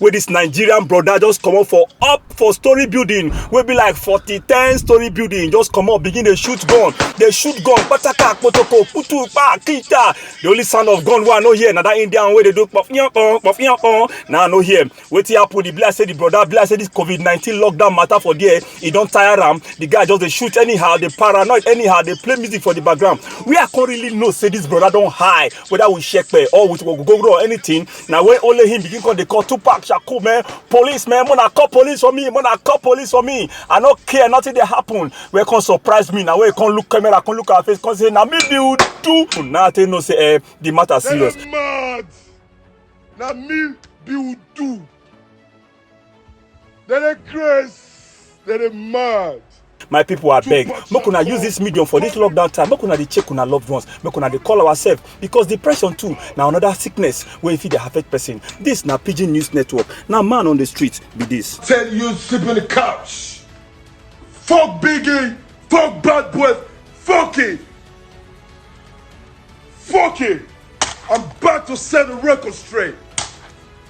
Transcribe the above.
wey this nigerian brother just comot for up for story building wey be like forty ten story building just comot begin dey shoot gun dey shoot gun pataka kpotoko putu pa kita the only sound of gun wey i no hear na that indian wey dey do pọpiyanpọn pọpiyanpọn na i no hear wetin happen e be like say the brother be like say this covid nineteen lockdown matter for there e don tire am the guy just dey shoot anyhow dey paranoid anyhow dey play music for the background wey i come really know say this brother don high whether we shepe or we go go run anything na when only him begin come dey call tupac shaku man police man mona call police for me mona call police for me i no care nothing dey happen wey come surprise me na wey come look camera come look our face come say na me be udu na i take know say eh the matter serious. mad na me be udu. They dey craze, they dey mad. my people abeg make una use this medium for this lockdown time make una dey check una loved ones make una dey call ourselves because depression too na another sickness wey fit dey affect person this na pidgin news network na man on the street be this. Tell you sleep on the couch. Fuck Biggie. Fuck Bad Boy. Fuck it. Fuck it. I'm about to set the record straight.